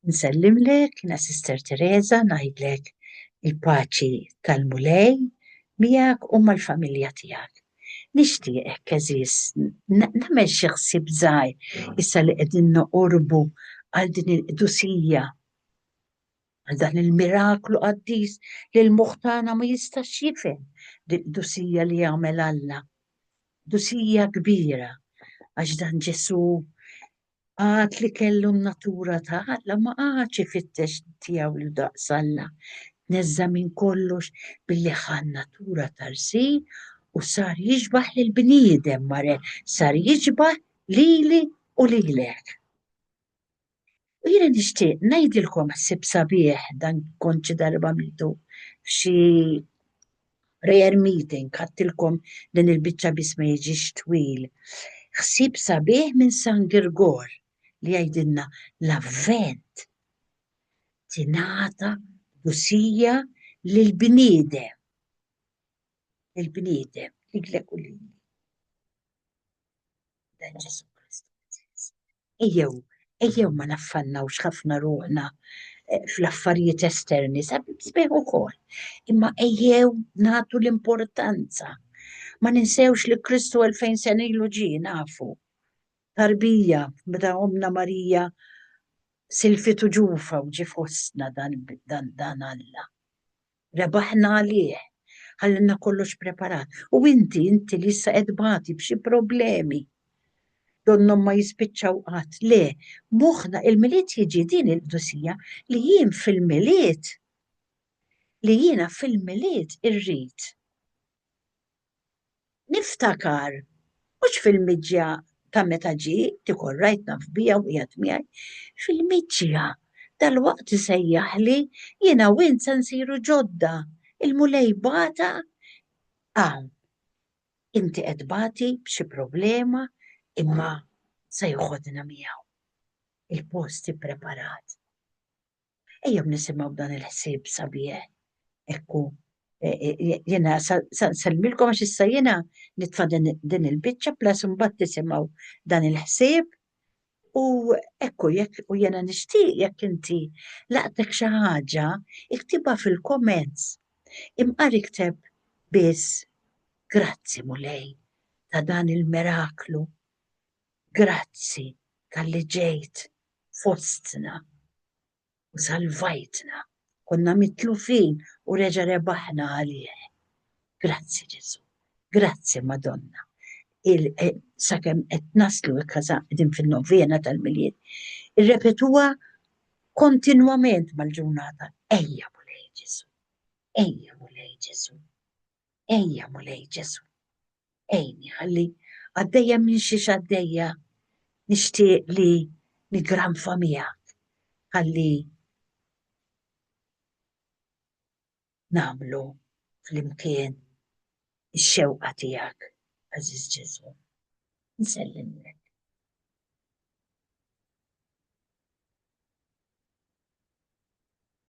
Nsellimlek, jiena Sister Teresa, ngħidlek il-paċi tal-Mulej miegħek u mal-familja tiegħek. Nixtieqek għeżież nagħmel xi ħsieb żgħir issa li qegħdin noqorbu għal din il-qdusija għal dan il-miraklu qaddis li l-muħtana ma jistax jifhem dil-qdusija li jagħmel Alla. Dusija kbira għax dan Ġesu Għad li kellu n-natura ta' Alla ma qagħadx ifittex tiegħu lil daqs Alla. Tneżża' minn kollox billi ħa n-natura ta' rsil u sar jixbah lill-bniedem, mare, sar jiġbah lili u lilek. U jiena nixtieq ngħidilkom ħsieb sabiħ, dan kont xi darba għamiltu f'xi Prayer meeting, ħadtilkom din il-biċċa biss ma jiġix twil. Ħsieb sabiħ minn San Girgor li jgħidilna l-avvent tingħata dusija lil bniedem. Il-bniedem, liglek u lili. Ejjew, ejjew ma naffannawx ħafna ruħna eh, fl-affarijiet esterni, sabieħ ukoll. Imma ejjew nagħtu l-importanza. Ma ninsewx li Kristu 2000 sena ilu ġie nafu. Tarbija, meta omna Marija silfitu ġufa u ġi fostna dan, dan, dan Alla. Rebaħna għalih. Ħallilna kollox preparat. U inti, inti li issa qed tbati b'xi problemi. Donnhom ma jispiċċaw qatt. Le, moħħna il-Milied jiġi din il-qdusija li jien fil-Milied li jiena fil-Milied irrid. Niftakar, mhux fil-miġja ta' meta ġie, dik orrajt naf biha u qiegħed miegħi, fil-miġja dalwaqt isejjaħli, jiena u int se nsiru ġodda, il-Mulej bagħatha hawn. Inti qed tbati b'xi problema imma se joħodna miegħu. Il-post ippreparat. Ejjew nisimgħu dan il-ħsieb sabiħ. Ekku, e, e, e, jena salmilkom għax issa jena nitfa din il-bicċa plas mbagħad tisimgħu dan il-ħsieb u ekku jekk u jena nixtieq jekk inti laqtek xi ħaġa iktibha fil-comments. Imqar ikteb biss grazzi mulej ta' dan il-miraklu Grazzi talli ġejt fostna u salvajtna. Konna mitlufin u reġa' rebaħna għalih. Grazzi Ġesù. Grazzi Madonna. Il sakemm qed naslu qegħdin fin-novena tal-Milied, irrepetuha kontinwament mal-ġurnata. Ejja Mulej Ġesù. Ejja Mulej Ġesù. Ejja Mulej Ġesù. Għinni ħalli għaddejja minn xi x'għaddejja nixtieq li niggranfa miegħek ħalli nagħmlu flimkien ix-xewqa tiegħek, għażiż Ġesù. Nsellimlek.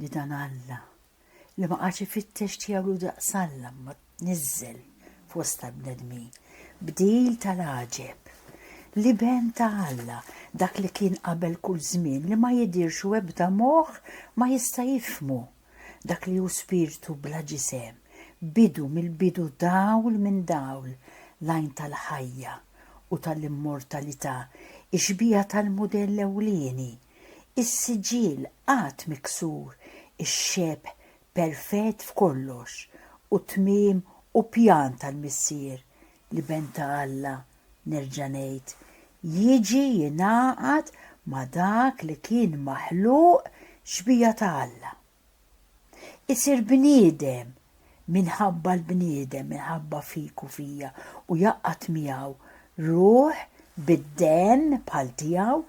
li dan Alla, li ma qagħadx ifittex tiegħu hu daqs Alla imma tniżżel fost tal-bnedmin, bdil tal-għaġeb, l-Iben ta' Alla, dak li kien qabel kull żmien li ma jidhirx u ebda moħħ ma jista' jifhmu, dak li hu spirtu bla ġisem, bidu mill-bidu dawl minn dawl, l-għajn tal-ħajja u tal-immortalità, ix-xbieha tal-mudell ewlieni, is-siġill qatt miksur, ix-xebh perfett f'kollox, u t-tmiem u pjan tal-Missier, l-Iben ta' Alla, nerġa' ngħid, jiġi jingħaqad ma' dak li kien maħluq xbieha ta' Alla. isir bniedem minħabba l-bniedem, minħabba fik u fija, u jaqqat miegħu ruħ bid-demm bħal tiegħu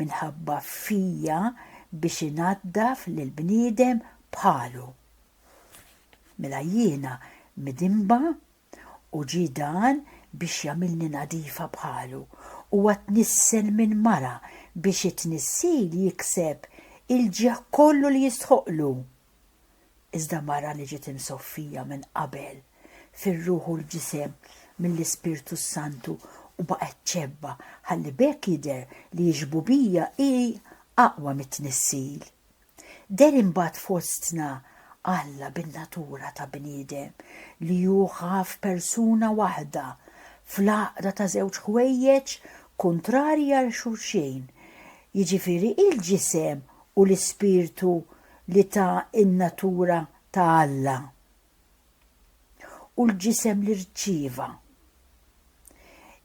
minħabba fija biex inaddaf lil bniedem bħalu. Mela jiena midinba u ġie dan biex jagħmilni nadifa bħalu, huwa tnissen minn mara biex it-tnissil jikseb il-ġieħ kollu li jistħoqqlu. Iżda mara li ġiet imsoffija minn qabel fir-ruħ u l-ġisem mill-Ispirtu s-Santu u baqgħet ċebba ħalli b'hekk jidher li x-xbubija hi aqwa mit-tnissil. Deher imbagħad fostna Alla bin-natura ta' bniedem li hu ħaf persuna waħda, fl-għaqda ta' żewġ ħwejjeġ kuntrarji għal xulxin, jiġifieri l-ġisem u l-ispirtu li ta in-natura ta' Alla. u l-ġisem li rċieva.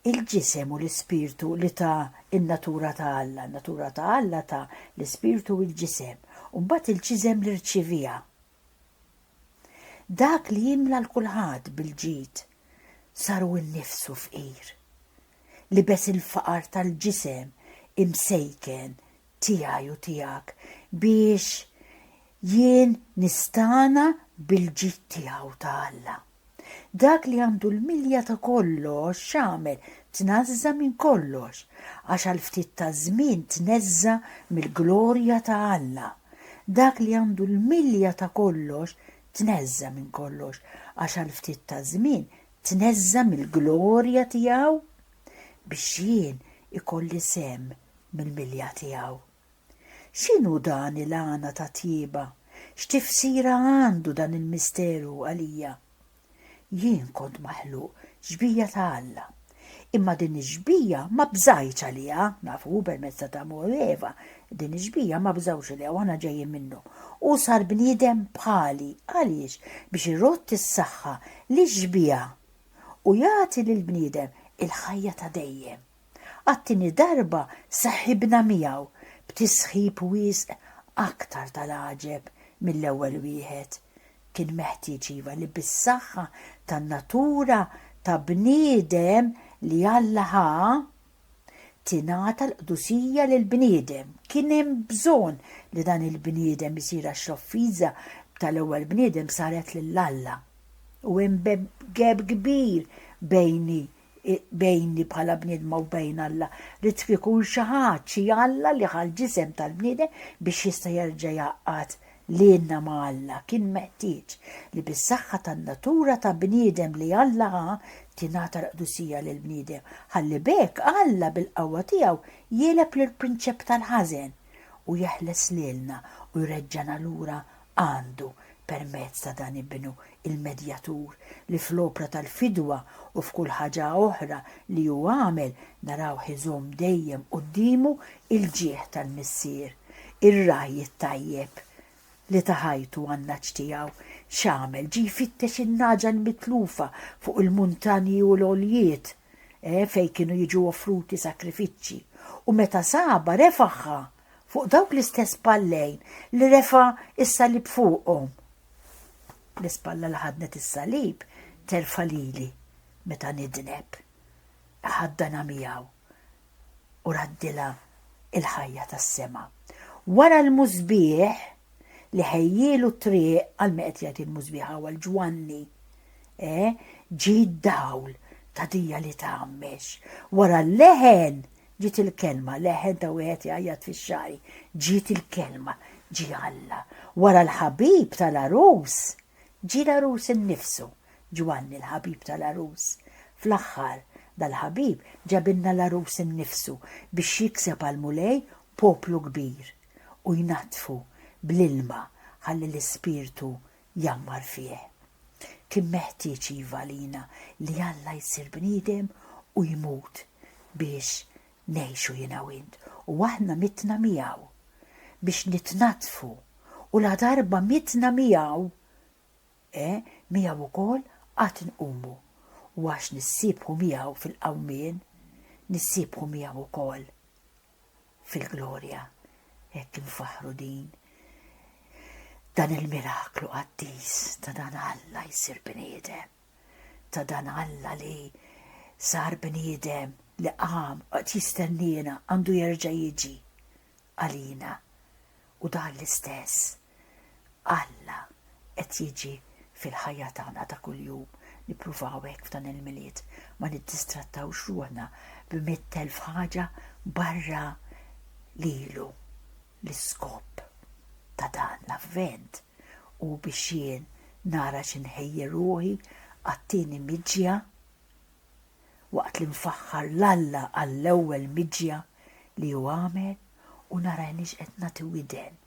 Il-ġisem u l-ispirtu li ta n-natura ta' Alla, in-natura ta' Alla ta l-ispirtu u l-ġisem, u mbagħad il-ġisem li rċievieha. Dak li jimla l kulħadd bil-ġid sar hu nnifsu fqir. Libes il-faqar tal-ġisem imsejken tiegħi u tiegħek biex jien nistagħna bil-ġid tiegħu ta' Alla. Dak li għandu l-milja ta' kollox x'għamel? Tnażża minn kollox, għax għal ftit ta' żmien tneżża mill-glorja ta' Alla. Dak li għandu l-milja ta' kollox tneżża minn kollox, għax għal ftit ta' żmien tneżża mill-glorja tiegħu biex jien ikolli sem mill-milja tiegħu. X'inhu dan il-għana ta' tjieba? X'tifsira għandu dan il-misteru għalija? Jien kont maħluq xbija ta' Alla. Imma din ix-xbija ma bżajtx għaliha, nafu hu permezz ta' Adamu u Eva, din ix-xbija ma bżawx għaliha u aħna ġejjin minnu. Hu sar bniedem bħali. Għaliex? Biex irodd is-saħħa lix-xbija u jagħti lill-bniedem il-ħajja ta' dejjem. Għat-tieni darba saħibna miegħu b'tisħib wisq aktar tal-għaġeb mill-ewwel wieħed. Kien meħtieġ iva li bis-saħħa tan-natura ta' bniedem li Alla ħa, tingħata l-qdusija lill-bniedem. Kien hemm bżonn li dan il-bniedem isir għax l-offiża tal-ewwel bniedem saret lil Alla. U hemm gap kbir bejni bejni bħala bniedma u bejn Alla, li trid ikun xi ħadd, xi Alla li ħa l-ġisem tal-bniedem biex jista' jerġa' jgħaqqad lilna ma' Alla, kien meħtieġ li bis-saħħa tan-natura ta' bniedem li Alla ħa, tingħata l-qdusija lill-bniedem, ħalli b'hekk Alla bil-qawwa tiegħu jegħleb lill-prinċep tal-ħażen u jeħles lilna u jreġġagħna lura Għandu, permezz ta' dan Ibnu, il-Medjatur, li fl-opra tal-fidwa u f'kull ħaġa oħra li hu għamel, narawh iżomm dejjem quddiemu l-ġieħ tal-Missier, ir-ragħaj it-tajjeb, li ta ħajtu għan-nagħaġ tiegħu. X'għamel? Ġie jfittex in-nagħaġa l-mitlufa fuq il-muntanji u l-għoljiet, eh, fejn kienu jiġu offruti sakrifiċċji, u meta sabha, refagħha! fuq dawk l-istess pallejn li refa' is-salib fuqhom. L-ispalla li ħadnet is-salib terfa' lili meta nidneb. Ħaddana miegħu u raddila il-ħajja tas-sema. Wara l-mużbieħ li ħejjielu triq għal meqed jgħid il-mużbieħ għal ġwanni, eh, ġi d-dawl ta' dija li tgħammex. Wara l-leħen Ġiet il-kelma, leħen ta' wieħed jgħajjat fix-xagħri, ġiet il-kelma, ġie Alla. Wara l-ħabib tal-għarus, ġie l-għarus innifsu, Ġwanni l-ħabib tal-għarus. Fl-aħħar, dal-ħabib ġabilna l-għarus innifsu biex jikseb għall-Mulej poplu kbir u jnaddfu bl-ilma ħalli l-Ispirtu jgħammar fih. Kien meħtieġ iva għalina li Alla jsir bniedem u jmut biex ngħixu jiena u int, u aħna mitna miegħu biex nitnaddfu u ladarba mitna miegħu, e, miegħu wkoll għad inqumu, u għax nissiebħu miegħu fil-qawmien, nissiebħu miegħu wkoll fil-glorja hekk infaħħru din dan il-miraklu qaddis ta' dan Alla jsir bniedem, ta' dan Alla li sar bniedem li qam qed jistenniena għandu jerġa' jiġi għalina u dan l-istess Alla qed jiġi fil-ħajja tagħna ta' kuljum. Nippruvaw hekk f'dan il-Milied ma niddistrattawx ruħna b'mitt elf ħaġa barra lilu. L-iskop ta' dan l-Avvent hu biex jien nara xi nħejji ruħi għat-tieni miġja waqt li nfaħħar 'l Alla għall-ewwel miġja li hu għamel u nara inix qed nagħti widen.